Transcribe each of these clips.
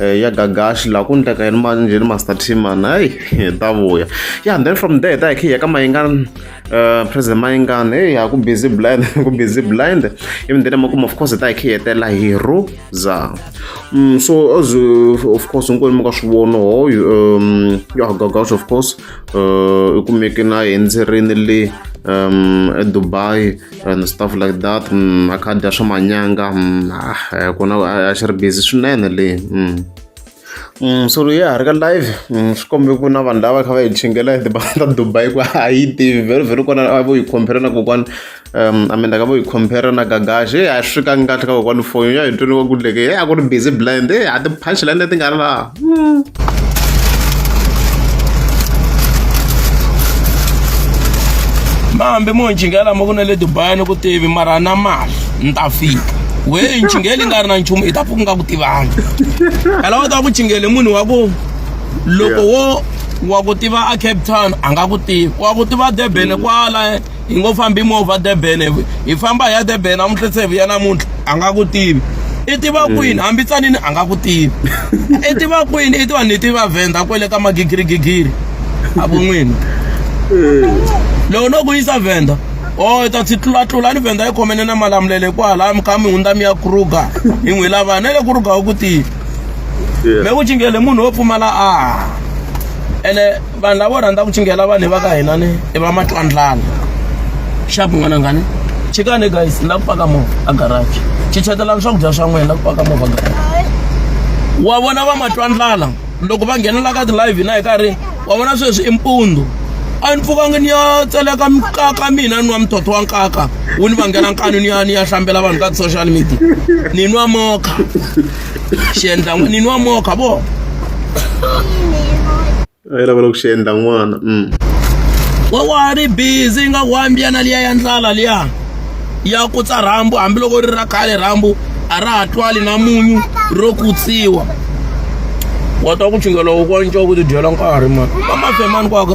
Eh, ya gagashi laha ku ndleka yini mali njheni master timan hayi hi ta vuya ya then from there ta hi khe hi ya ka mayingani eh, president mayingani heyi ha ku busy blind ku busy blind even then emakumu of course ta hi khe hi hetela hi roza mm, so as of course hinkwenu mi ka swi vona ho um, ya gagashi of course eh, i kumeke na hi endzerini le um edubai and stuff like that mm, a kha dya swa manyanga mm, ah, eh, kona a xi ri busy swinene le mm. Mm, so loyi ha ri ka live mm, swi kombe ku na vanhu lava kha va hi chingela hi tibanga ta dubai ku a yi tivi very very kona a vo yi compare na kokwana um i mean ka vo yi compare na gagaxi e a swi fikangi kahle ka kokwana foyini ya hi tweriwa ku leke e a ku ri busy blind e a ti-punchline leti nga ri laha mambe mo ncingela ma ku na le dubai ni ku tivi mara na mali ni ta fika wehe ncingela yi nga ri na nchumu i ta pfuka nga ku tivanga ela wa ta ku cingele munhu wa ku loko wo wa ku tiva a cape town a nga ku tivi wa ku tiva durban kwala hi ngo fambi movha durban hi famba hi ya durban namuntlha se hi vuya namuntlha a nga ku tivi i tiva mm. kwini hambi tsanini a nga ku tivi i tiva kwini i tiva ni tiva venda kwele ka magigirigigiri a vo n'wini mm. loko no ku yisa venda o oh, ta ndzi tlulatlula ni venda yi khomene na malamulele kwala ka mihundza mi ya kruga hi n'wi lava na le kruga u ku tivi me ku cingele munhu wo pfumala a ene vanhu lavo rhandza ku cingela vanhu va ka hina ni i va matwandlana xapu n'wana ngani chikane guys ni la ku paka movha a garaji chichetelani swakudya swa n'wina la ku paka movha garaji wa vona va matwandlala loko va nghenela ka ti-live hina hi karhi wa vona sweswi i mpundu a ni pfukangi ni ya tseleka mikaka mina ni nwa mithotho wa nkaka wu ni vangela nkani ni ya ni ya hlambela vanhu ka ti-social media ni nwa mokha xi endla n'wini wa mokha vo a yi lava loko xi endla n'wana mm. wa wa ri busy nga wambiyana liya ya ndlala liya ya kutsa rhambu hambiloko ri ra khale rhambu a ra ha twali na munyu ro kutsiwa wa twa ku chingela wu kwanca ku tidyela nkarhi mani va mafemani kwaka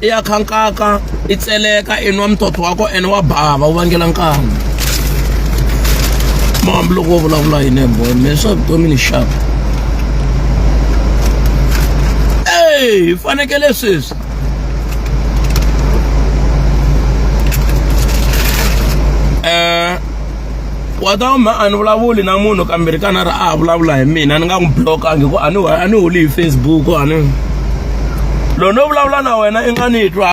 i ya khankaka i tseleka i nwa mutoto wa ko ene wa bava wu vangela nkama mambi loko wo vulavula hi nembo me swa vutomi ni xaka e hi fanekele sweswi wa ta ma a ni vulavuli na munhu kambirhi ka nharhu a ha vulavula hi mina ni nga n'wi blokangi ku a ni a ni holi hi facebook a ni loyi no vulavula na wena i nga ni twa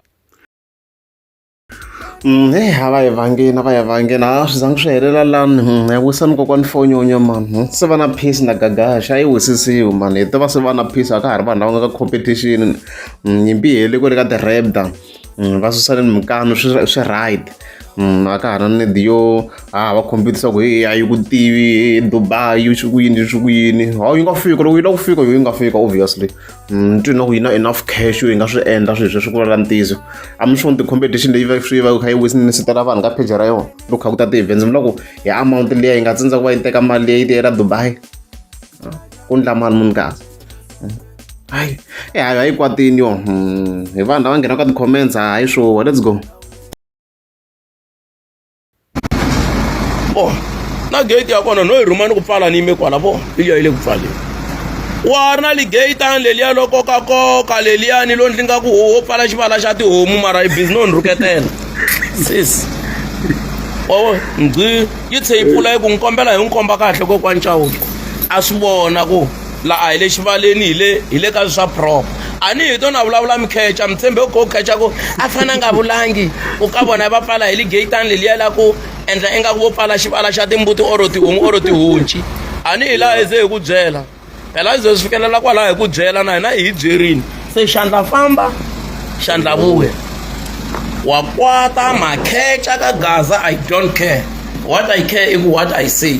mm, heyi a va yi vangeni a va yi vangeni a swi zangi swi helela lani mm, ya wisani kokwani fonyonya mani mm, se va na peace na gagaxa a yi wisisiwi mani hi tiva se va na peace a ka ha ri vanhu lava nga ka competition nyimpi yi heli ku ri ka ti-rapda va susa ni mikani swi swi right a ka ha ri na need yo ha va khompita swa ku heyi a yi ku tivi Dubai yi swi ku yini yi swi ku yini hawu yi nga fika loko yi lava ku fika yo yi nga fika obviously ni twi na ku yi na enough cash yo yi nga swi endla swilo sweswi ku lala ntizo a mi swi vona ti-competition leyi va swi va kha yi wisinitela vanhu ka page ra yona loko kha ku ta ti-events mi loko hi amount liya yi nga tsindza ku va yi teka mali leyi yi tiyela Dubai ku ndla mali munhu kahle hayi eh, hayi hayi kwatini yo hmm, hi vanhu lava nghena ka ti-comments hayi swo let's go oh na gate ya kona no yi rhumani ku pfala ni yime kwala vo liya yi le ku pfaleni wa ri na ligeyitani leliya lo kokakoka leliyani lo ndzi nga ku ho pfala xivala xa tihomu mara yi bizi no ni rhuketela sis o ndzi yi tshe yi pfula yi ku n'wi kombela hi n'wi komba kahle kokwancawu a swi vona ku la a hi le xivaleni hi le hi le ka swa prop a ni hi tona vulavula mi khecha mi tshembe ku khecha ku a fana nga vulangi u ka vona va pfala hi li geyitani leliya la ku endla ingaku vo pfala xivala xa timbuti oro tihungu oro tihunci a ni hi laha hi ze hi ku byela phela hi ze swi fikelela kwalaho hi ku byela na hina hi hi byerini se xandla famba xandla vuya wa kwata makhecha ka gaza i don't care what i care i ku what i say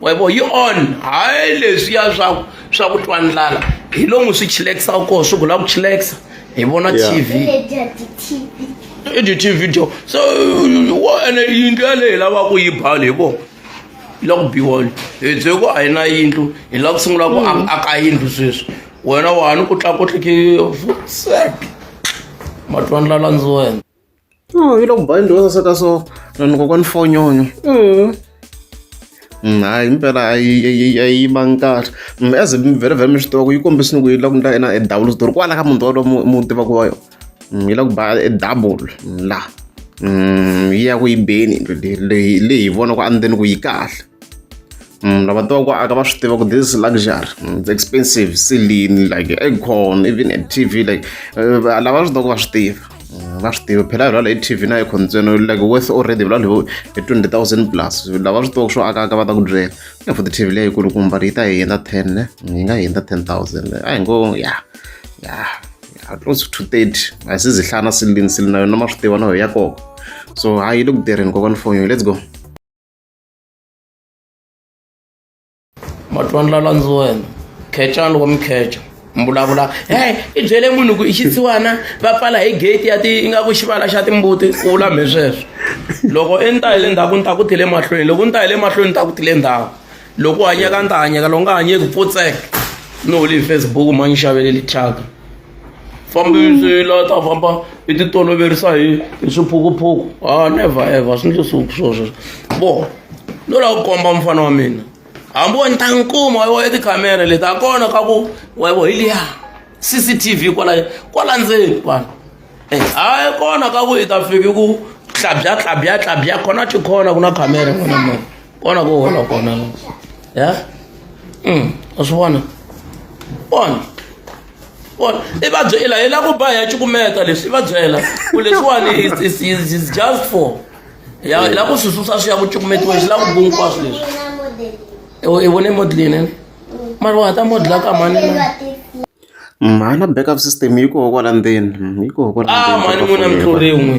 webo yi on hayi leswiya swa swa ku twa ndlala hi lomu swi chilekisa koho swi gula ku chilekisa hi vona tv i tv dyo so wo ene yindlu yaleyi lava ku yi bala hi vona yi la ku biwona hi bye ku a yi na yindlu hi lava ku sungula ku mm. aka yindlu sweswi wena wani ku tlakutlike matwandlala ndzi wena Oh, yi le ku bani dyondzo saseka so vanhu kokwani fonyonyo mm, hayi impela a yi vangi kahle mm, as mi vhele vhele mi swi tiva ku yi kombisini ku yi la ku ndla yena e double switori kwala ka munhu walowo mu tiva ku wa yona mm, yi la ku ba e double la yi ya ku yi beni leyi leyi hi vona ku a ni ku yi kahle Mm, lava tiva ku aka va swi tiva ku this luxury mm, it's expensive silini like aircon even a t v like eh, lava swi tiva ku va swi tiva mm, va swi tiva phela vilalo hi t v na aircon ntsena like worth already vilalo hi twenty thousand plus lava swi tiva ku swo aka aka va ta ku byela ya for the t v leyi kulukumba yi ta hi hundza ten ne yi nga hi hundza ten thousand a hi ngo ya ya close to thirty a hi se zihlana silini silini na yona ma swi tiva na yo ya koko so hayi yi le ku tirheni kokwani fonyo let's go matwani la landziwena khecani wa mikheca mbulabula hey i byele munhu ku i xitsiwana va pfala hi gate ya ti ingaku xivala xa timbuti ku vulamhe sweswo loko i ni ta hi le ndzhaku ni ta ku tile mahlweni loko ni ta hi le mahlweni ni ta ku tile ndhawu loko u hanyeka ni ta hanyeka loko nga hanyeki pfutseka ni holi hi facebook ma ni xaveleli thyaka fambi swi la ta famba i ti toloverisa hi hi swiphukuphuku ha ah, never ever swi ndle swi swo sweswo bo no lava ku komba mufana wa mina hambi wa ni ta n'wi kuma wa i tikhamera leti ha kona ka ku wa vo hi liya cctv kwala kwala ndzeni vanhu eh, hayi kona ka ku i ta fiki ku tlabya tlabya tlabya kona ti khona ku na khamera n'wana mona kona ku hola kona ya mm, a swi vona vona vona i va byela hi lava ku ba hi ya cukumeta leswi i va byela ku leswiwani is just for ya hi lava ku swi susa swi ya ku cukumetiweni swi lava ku hinkwaswo leswi i vone modelini mara wa ha ta modela ka mani mhana backup system yi koho kwala ndzeni yi koho kwala ah mani n'wina mi tluriwin'we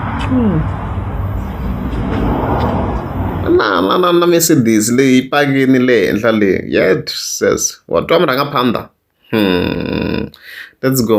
Hmm. na na na na mercedes leyi pakini le henhla leyi yet says wa twa murhanga phanda hmm. let's go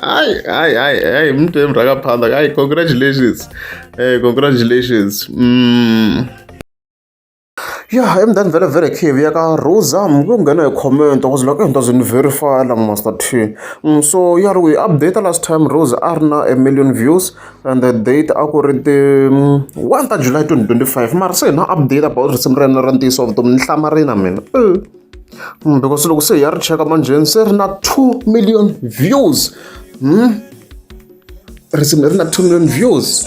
hayi hayi hayi hayi mntu emrakaphandla hayi congratulations um congratulations mm. ya emndani vele vele khivi ya ka rosa ku nghena hi comment wa ku zilaka into zini verify la master t mm, so ya ri ku yi update last time rosa a ri na a million views and the date a ku ri ti mm, one ta july 2025 mara se hi na update about risimu ra yena ra ntiyiso vutomi ni hlamarina mina mm, because loko se hi ya ri cheka manjheni se ri na 2 million views mm? risimu leri na 2 million views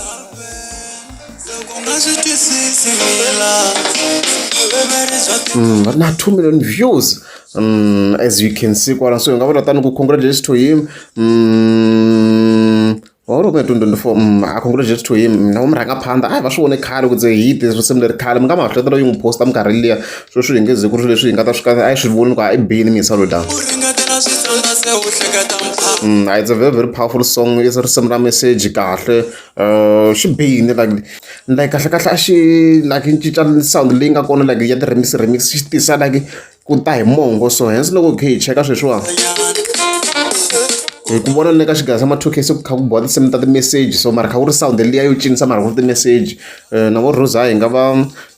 Mm, na 2 million views um, as you can see kwala so hi nga vula tani ku congratulates to him um, Or u nga 2024 mm, a congratulations to him na murhangaphandha a hi va swi vone khale ku ze hi te risimu leri khale mi nga mahleto loyi n'wi posta minkarhi liya swo swi hi nge ze ku ri leswi hi nga ta swi ka a yi swi voni ku a i bini mi hi saluta Mm, it's a very very powerful song i risimu ra message kahle uh, xi bihini like like kahle kahle a xi like yi cinca sound leyi nga kona like ya ti-remix remix xi tisa like ku ta hi mongo so hence loko hi khe hi cheka sweswiwa hi ku vona ni le ka xigaya xa ma-two-k se ku kha ku boha tinsimu ta ti-message so mara kha ku ri sound liya yo cinisa mara ku ri ti-message um na vo rosa hi nga va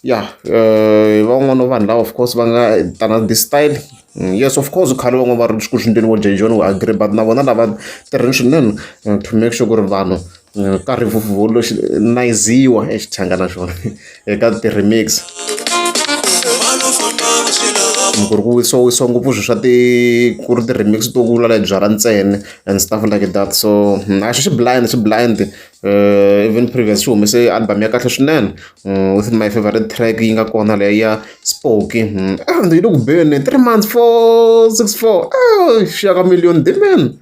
ya um va van'wana vanhu lava of course va nga tana this style mm, yes of course khale van'wana va ri ku swi ndleni vo jejoni wu agree but na vona lava tirheni swinene eh, to make sure ku ri vanhu Nkarhi nayiziwa e xichanga na xona eka ti-remix. Loko ku ri ku wisiwawisiwa ngopfu swilo swa ti ku ri ti-remix to vula leti byalwa ntsena and stuff like that so a swi blind swi blind even Previous xi humese album ya kahle swinene with my favorite track yi nga kona leyi ya Spoki yi le ku beni three months four six four xi ya ka million demand.